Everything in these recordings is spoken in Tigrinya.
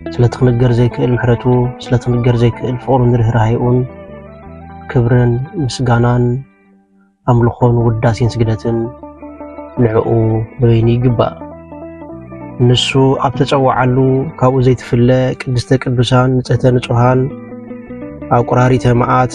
ስለቲ ክንገር ዘይክእል ምሕረቱ፣ ስለቲ ክንገር ዘይክእል ፍቕሩን ርህራሄኡን ክብርን ምስጋናን ኣምልኾን ውዳሴን ስግደትን ንዕኡ ንበይኑ ይግባእ። ንሱ ኣብ ተጸዋዓሉ ካብኡ ዘይትፍለ ቅድስተ ቅዱሳን ንጽህተ ንጹሃን ኣቁራሪተ መዓት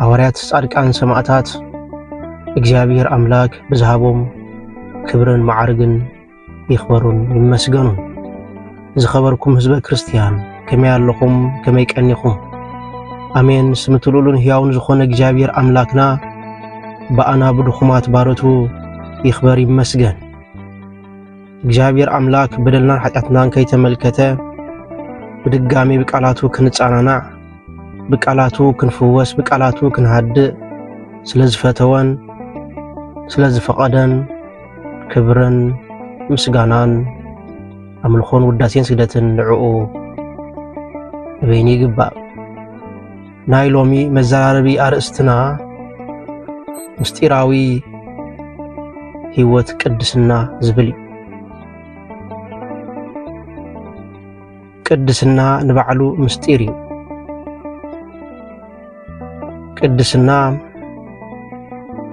ሃዋርያት ጻድቃን ሰማእታት እግዚኣብሔር ኣምላክ ብዝሃቦም ክብርን መዓርግን ይኽበሩን ይመስገኑን። ዝኸበርኩም ህዝበ ክርስቲያን ከመይ ኣለኹም? ከመይ ቀኒኹም? ኣሜን ስምቲ ልኡሉን ሕያውን ዝኾነ እግዚኣብሔር ኣምላክና ብኣና ብድኹማት ባረቱ ይኽበር ይመስገን። እግዚኣብሔር ኣምላክ በደልናን ኃጢኣትናን ከይተመልከተ ብድጋሚ ብቃላቱ ክንጻናናዕ ብቃላቱ ክንፍወስ ብቃላቱ ክንሃድእ ስለ ዝፈተወን ስለ ዝፈቐደን ክብርን ምስጋናን ኣምልኾን ውዳሴን ስግደትን ንዕኡ ንበይኑ ይግባእ። ናይ ሎሚ መዘራረቢ ኣርእስትና ምስጢራዊ ህይወት ቅድስና ዝብል እዩ። ቅድስና ንባዕሉ ምስጢር እዩ። ቅድስና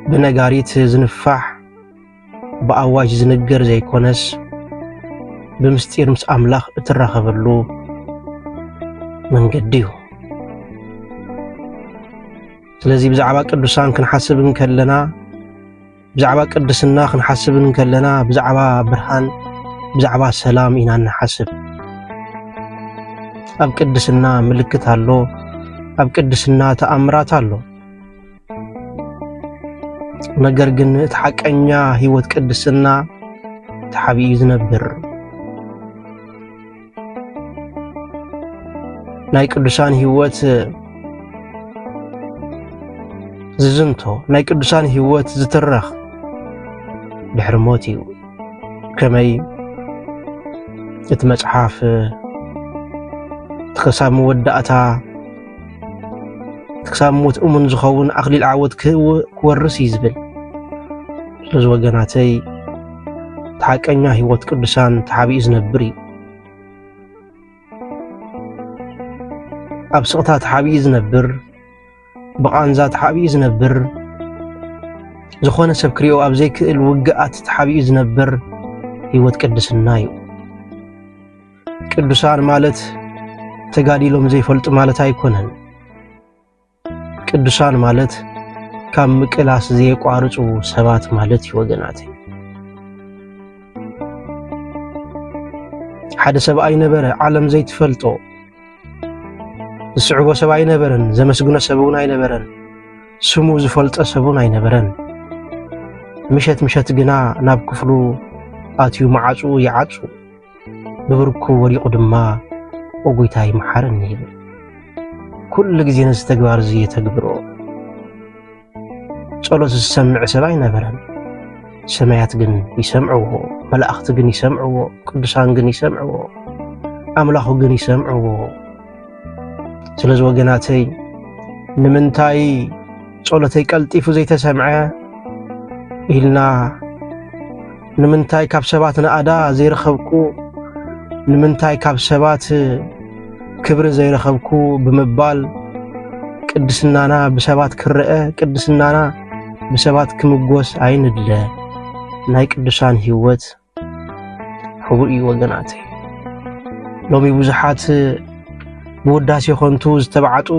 ብነጋሪት ዝንፋሕ ብኣዋጅ ዝንገር ዘይኮነስ ብምስጢር ምስ ኣምላኽ እትራኸበሉ መንገዲ እዩ። ስለዚ ብዛዕባ ቅዱሳን ክንሓስብ እንከለና ብዛዕባ ቅድስና ክንሓስብ እንከለና ብዛዕባ ብርሃን ብዛዕባ ሰላም ኢና ንሓስብ። ኣብ ቅድስና ምልክት ኣሎ፣ ኣብ ቅድስና ተኣምራት ኣሎ። ነገር ግን እቲ ሓቀኛ ህይወት ቅድስና ተሓቢኡ ዝነብር ናይ ቅዱሳን ህይወት ዝዝንቶ ናይ ቅዱሳን ህይወት ዝትረኽ ድሕሪ ሞት እዩ ከመይ እቲ መጽሓፍ ክሳብ መወዳእታ ክሳብ ሞት እሙን ዝኸውን ኣኽሊል ዓወት ክወርስ እዩ ዝብል ስለዚ ወገናተይ ተሓቀኛ ህይወት ቅዱሳን ተሓቢኡ ዝነብር እዩ ኣብ ስቕታ ተሓቢኡ ዝነብር ብቓንዛ ተሓቢኡ ዝነብር ዝኾነ ሰብ ክሪኦ ኣብ ዘይክእል ውግኣት ተሓቢኡ ዝነብር ህይወት ቅድስና እዩ ቅዱሳን ማለት ተጋዲሎም ዘይፈልጡ ማለት ኣይኮነን። ቅዱሳን ማለት ካብ ምቅላስ ዘየቋርጹ ሰባት ማለት እዩ ወገናት። ሓደ ሰብኣይ ነበረ ዓለም ዘይትፈልጦ ዝስዕቦ ሰብ ኣይነበረን፣ ዘመስግኖ ሰብ እውን ኣይነበረን፣ ስሙ ዝፈልጦ ሰብ እውን ኣይነበረን። ምሸት ምሸት ግና ናብ ክፍሉ ኣትዩ መዓጹኡ ይዓጹ። ብብርኩ ወዲቑ ድማ ኦ ጎይታይ መሓረኒ ይብል። ኩሉ ግዜ ነዚ ተግባር እዚ የተግብሮ። ጸሎት ዝሰምዕ ሰብ ኣይነበረን። ሰማያት ግን ይሰምዕዎ፣ መላእኽቲ ግን ይሰምዕዎ፣ ቅዱሳን ግን ይሰምዕዎ፣ ኣምላኹ ግን ይሰምዕዎ። ስለዚ ወገናተይ ንምንታይ ጸሎተይ ቀልጢፉ ዘይተሰምዐ ኢልና ንምንታይ ካብ ሰባት ናእዳ ዘይረኸብኩ ንምንታይ ካብ ሰባት ክብሪ ዘይረኸብኩ ብምባል ቅድስናና ብሰባት ክረአ ቅድስናና ብሰባት ክምጎስ ኣይንድለ። ናይ ቅዱሳን ህይወት ሕቡእ እዩ ወገናተይ ሎሚ ብዙሓት ብውዳሴ ኾንቱ ዝተባዕጡ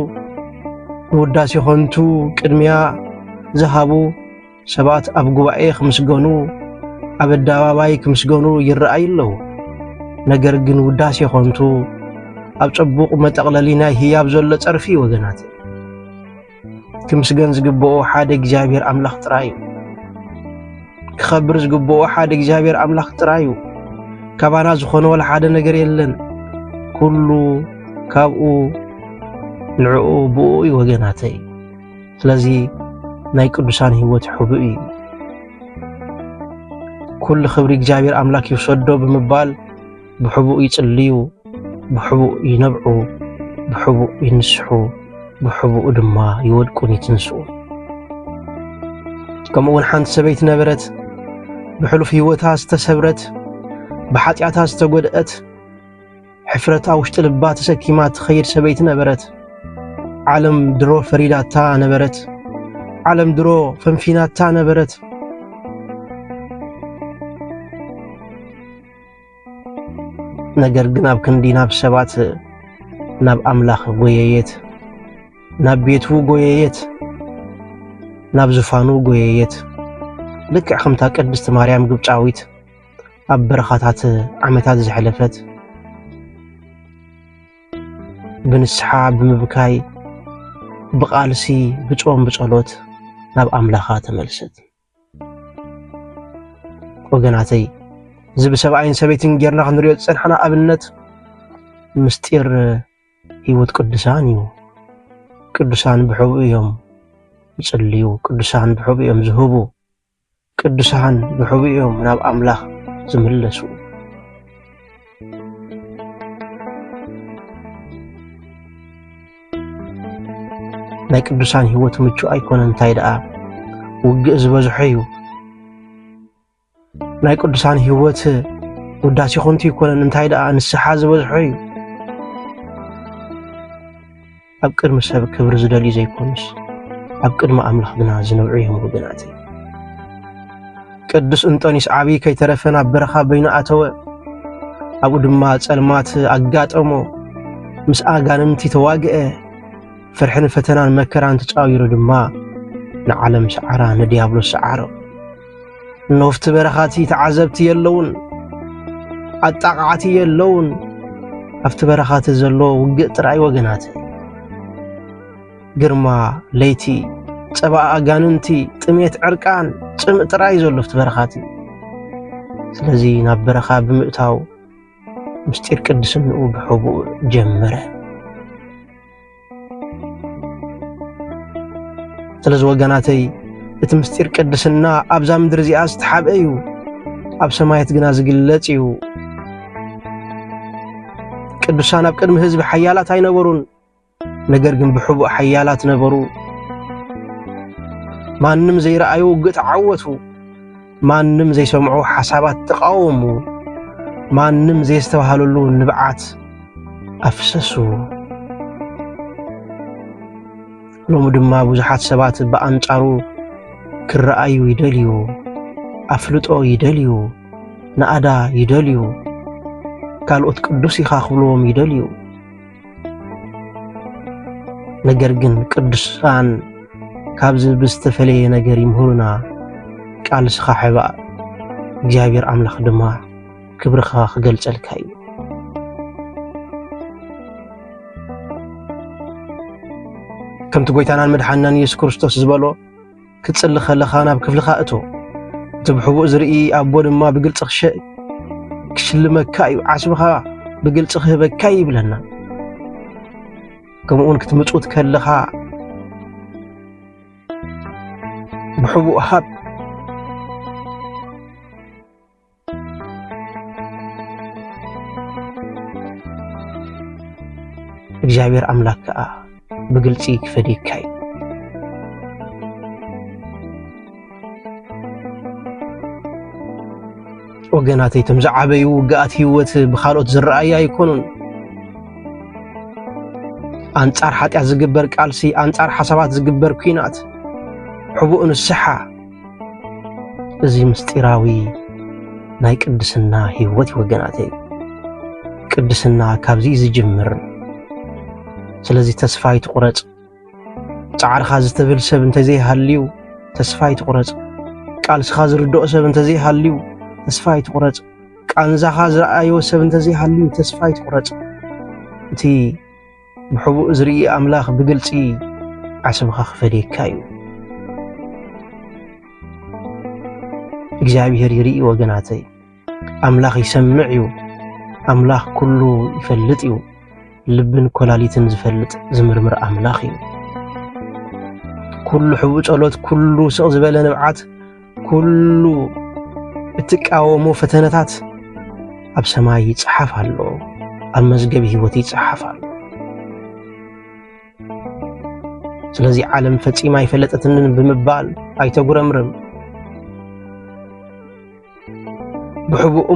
ብውዳሴ ኾንቱ ቅድሚያ ዝሃቡ ሰባት ኣብ ጉባኤ ክምስገኑ ኣብ ኣደባባይ ክምስገኑ ይረኣዩ ኣለዉ። ነገር ግን ውዳሴ ኾንቱ ኣብ ጸቡቕ መጠቕለሊ ናይ ህያብ ዘሎ ጸርፊ ወገናት ክምስገን ዝግብኦ ሓደ እግዚኣብሔር ኣምላኽ ጥራይ እዩ። ክኸብር ዝግብኦ ሓደ እግዚኣብሔር ኣምላኽ ጥራይ እዩ። ካባና ዝኾነ ወላ ሓደ ነገር የለን። ኩሉ ካብኡ ንዕኡ ብኡ እዩ ወገናተይ። ስለዚ ናይ ቅዱሳን ህይወት ሕቡእ እዩ። ኩሉ ክብሪ እግዚኣብሔር ኣምላክ ይውሰዶ ብምባል ብሕቡእ ይጽልዩ፣ ብሕቡእ ይነብዑ፣ ብሕቡእ ይንስሑ፣ ብሕቡእ ድማ ይወድቁን ይትንስኡን። ከምኡ እውን ሓንቲ ሰበይቲ ነበረት፣ ብሕሉፍ ህይወታ ዝተሰብረት፣ ብሓጢኣታ ዝተጎድአት፣ ሕፍረት ኣብ ውሽጢ ልባ ተሰኪማ ትኸይድ ሰበይቲ ነበረት። ዓለም ድሮ ፈሪዳታ ነበረት። ዓለም ድሮ ፈንፊናታ ነበረት። ነገር ግን ኣብ ክንዲ ናብ ሰባት ናብ ኣምላኽ ጎየየት፣ ናብ ቤቱ ጎየየት፣ ናብ ዝፋኑ ጎየየት። ልክዕ ከምታ ቅድስቲ ማርያም ግብፃዊት ኣብ በረኻታት ዓመታት ዘሕለፈት ብንስሓ ብምብካይ ብቓልሲ ብጾም ብጸሎት ናብ ኣምላኻ ተመልሰት። ወገናተይ እዚ ብሰብኣይን ሰበይትን ጌርና ክንሪኦ ዝፀናሕና ኣብነት ምስጢር ህይወት ቅዱሳን እዩ። ቅዱሳን ብሕቡ እዮም ይፅልዩ፣ ቅዱሳን ብሕቡ እዮም ዝህቡ፣ ቅዱሳን ብሕቡ እዮም ናብ ኣምላኽ ዝምለሱ። ናይ ቅዱሳን ህይወት ምቹእ ኣይኮነ እንታይ ደኣ ውግእ ዝበዝሖ እዩ ናይ ቅዱሳን ህይወት ውዳሴ ኮንቱ ይኮነን እንታይ ደኣ ንስሓ ዝበዝሖ እዩ ኣብ ቅድሚ ሰብ ክብሪ ዝደልዩ ዘይኮኑስ ኣብ ቅድሚ ኣምላኽ ግና ዝነብዑ እዮም ወገናተይ። ቅዱስ እንጦንስ ዓብዪ ከይተረፈ ናብ በረኻ በይኑ ኣተወ። ኣብኡ ድማ ጸልማት ኣጋጠሞ፣ ምስ ኣጋንንቲ ተዋግአ። ፍርሕን ፈተናን መከራን ተጻዊሩ ድማ ንዓለም ሰዓራ፣ ንዲያብሎስ ሰዓሮ። ኖፍቲ በረኻቲ ተዓዘብቲ የለውን፣ ኣጣቃዓቲ የለውን። ኣብቲ በረኻቲ ዘሎ ውግእ ጥራይ ወገናት ግርማ ለይቲ ጸባኣ ኣጋንንቲ ጥሜት ዕርቃን ጽምእ ጥራይ ዘሎ ኣብቲ በረኻቲ ስለዚ ናብ በረኻ ብምእታው ምስጢር ቅድስንኡ ብሕቡእ ጀመረ። ስለዚ ወገናተይ እቲ ምስጢር ቅድስና ኣብዛ ምድሪ እዚኣ ዝተሓብአ እዩ፣ ኣብ ሰማያት ግና ዝግለጽ እዩ። ቅዱሳን ኣብ ቅድሚ ህዝቢ ሓያላት ኣይነበሩን፣ ነገር ግን ብሕቡእ ሓያላት ነበሩ። ማንም ዘይረኣዩ ውግእ ተዓወቱ። ማንም ዘይሰምዑ ሓሳባት ተቃወሙ፣ ማንም ዘየስተባሃለሉ ንብዓት ኣፍሰሱ። ሎሚ ድማ ብዙሓት ሰባት ብኣንጻሩ ክረኣዩ ይደልዩ፣ ኣፍልጦ ይደልዩ፣ ናእዳ ይደልዩ፣ ካልኦት ቅዱስ ኢኻ ክብልዎም ይደልዩ። ነገር ግን ቅዱሳን ካብዚ ብዝተፈለየ ነገር ይምህሩና። ቃልስኻ ሕባእ እግዚኣብሔር ኣምላኽ ድማ ክብርኻ ክገልጸልካ እዩ። ከምቲ ጎይታናን መድሓንናን ኢየሱስ ክርስቶስ ዝበሎ ክትጽሊ ከለኻ ናብ ክፍልኻ እቶ፣ እቲ ብሕቡእ ዝርኢ ኣቦ ድማ ብግልጺ ክሽልመካ እዩ፣ ዓስብኻ ብግልጺ ክህበካ እዩ ይብለና። ከምኡውን ክትምጹት ከለኻ ብሕቡእ ሃብ እግዚኣብሔር ኣምላክ ከዓ ብግልፂ ክፈዴካ እዩ ወገናተይ እቶም ዝዓበዩ ውግኣት ህይወት ብካልኦት ዝረኣዩ ኣይኮኑን ኣንጻር ሓጢኣት ዝግበር ቃልሲ ኣንጻር ሓሳባት ዝግበር ኲናት ሕቡእ ንስሓ እዚ ምስጢራዊ ናይ ቅድስና ህይወት እዩ ወገናተይ። ቅድስና ካብዚ እዩ ዝጅምር። ስለዚ ተስፋ ይትቁረጽ። ጻዕርኻ ዝትብል ሰብ እንተዘይሃልዩ ተስፋ ይትቁረጽ። ቃልስኻ ዝርድኦ ሰብ እንተዘይሃልዩ ተስፋ ይትቁረጽ። ቃንዛኻ ዝረኣዮ ሰብ እንተዘይሃልዩ ተስፋ ይትቁረጽ። እቲ ብሕቡእ ዝርኢ ኣምላኽ ብግልጺ ዓስብኻ ክፈድየካ እዩ። እግዚኣብሔር ይርኢ ወገናተይ። ኣምላኽ ይሰምዕ እዩ። ኣምላኽ ኩሉ ይፈልጥ እዩ። ልብን ኮላሊትን ዝፈልጥ ዝምርምር ኣምላኽ እዩ። ኩሉ ሕቡእ ጸሎት፣ ኩሉ ስቕ ዝበለ ንብዓት ኩሉ እትቃወሞ ፈተነታት ኣብ ሰማይ ይጽሓፍ ኣሎ፣ ኣብ መዝገብ ህይወት ይጽሓፍ ኣሎ። ስለዚ ዓለም ፈጺማ ኣይፈለጠትንን ብምባል ኣይተጉረምርም። ብሕቡእ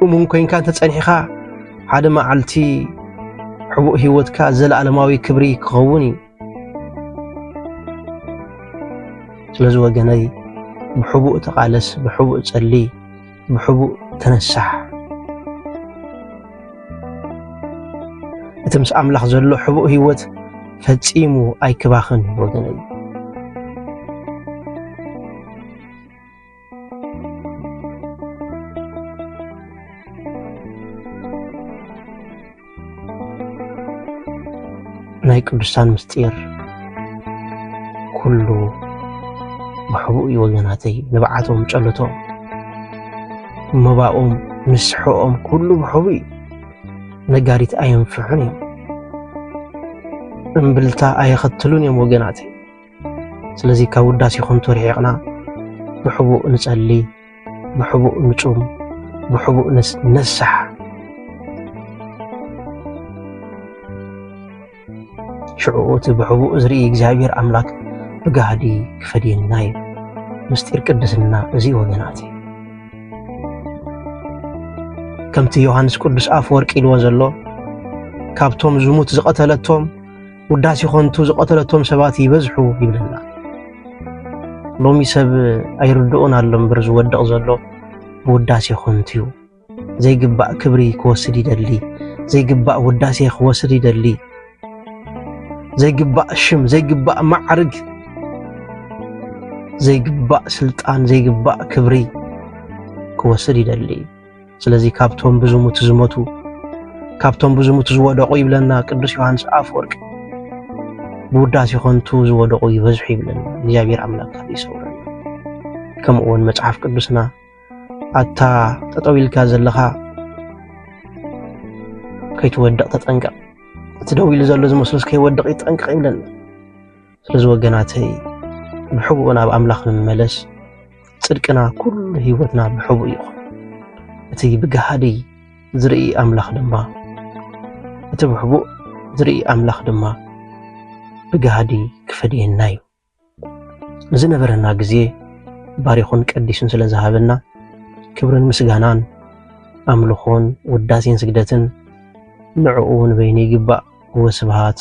እሙን ኮይንካ እንተጸኒሕኻ ሓደ መዓልቲ ሕቡእ ህይወትካ ዘለኣለማዊ ክብሪ ክኸውን እዩ። ስለዚ ወገነይ ብሕቡእ ተቓለስ፣ ብሕቡእ ጸሊ፣ ብሕቡእ ተነሳሕ። እቲ ምስ ኣምላኽ ዘሎ ሕቡእ ህይወት ፈጺሙ ኣይክባኽን ወገነይ። ናይ ቅዱሳን ምስጢር ኩሉ ብሕቡእ እዩ ወገናተይ ንብዓቶም ጨለቶም መባኦም ምስሕኦም ኩሉ ብሕቡእ እዩ ነጋሪት ኣየንፍሑን እዮም እምብልታ ኣየኸትሉን እዮም ወገናተይ ስለዚ ካብ ውዳሴ ከንቱ ርሒቕና ብሕቡእ ንጸሊ፣ ብሕቡእ ንጹም፣ ብሕቡእ ነሳሕ። ሽዑኡ እቲ ብሕቡእ ዝርኢ እግዚኣብሔር ኣምላክ ብጋህዲ ክፈድየና እዩ። ምስጢር ቅድስና እዚ ወገናት ከምቲ ዮሃንስ ቅዱስ ኣፈወርቂ ኢልዎ ዘሎ ካብቶም ዝሙት ዝቐተለቶም ውዳሴ ኾንቱ ዝቐተለቶም ሰባት ይበዝሑ ይብለና። ሎሚ ሰብ ኣይርድኦን ኣሎ እምበር ዝወድቕ ዘሎ ብውዳሴ ኾንቱ እዩ። ዘይግባእ ክብሪ ክወስድ ይደሊ፣ ዘይግባእ ውዳሴ ክወስድ ይደሊ፣ ዘይግባእ ሽም፣ ዘይግባእ ማዕርግ፣ ዘይግባእ ስልጣን፣ ዘይግባእ ክብሪ ክወስድ ይደሊ። ስለዚ ካብቶም ብዙሙት ዝሞቱ ካብቶም ብዙሙት ዝወደቑ ይብለና ቅዱስ ዮሐንስ ኣፈወርቅ ብውዳሴ ኾንቱ ዝወደቑ ይበዝሑ ይብለና እግዚኣብሔር ኣምላክ ካብ ይሰውረና ከምኡ እውን መጽሓፍ ቅዱስና ኣታ ጠጠው ኢልካ ዘለኻ ከይትወድቕ ተጠንቀቕ እቲ ደው ኢሉ ዘሎ ዝመስሉስ ከይወድቕ ይጠንቀቕ ይብለና ስለዚ ወገናተይ ብሕቡእ ናብ ኣምላኽ ንመለስ፣ ጽድቅና ኩሉ ህይወትና ብሕቡእ ይኹን። እቲ ብገሃዲ ዝርኢ ኣምላኽ ድማ እቲ ብሕቡእ ዝርኢ ኣምላኽ ድማ ብገሃዲ ክፈድየና እዩ። ንዝነበረና ግዜ ባሪኹን ቀዲሱን ስለ ዝሃበና ክብርን ምስጋናን ኣምልኾን ውዳሴን ስግደትን ንዕኡ ንበይኑ ይግባእ። ወስብሃት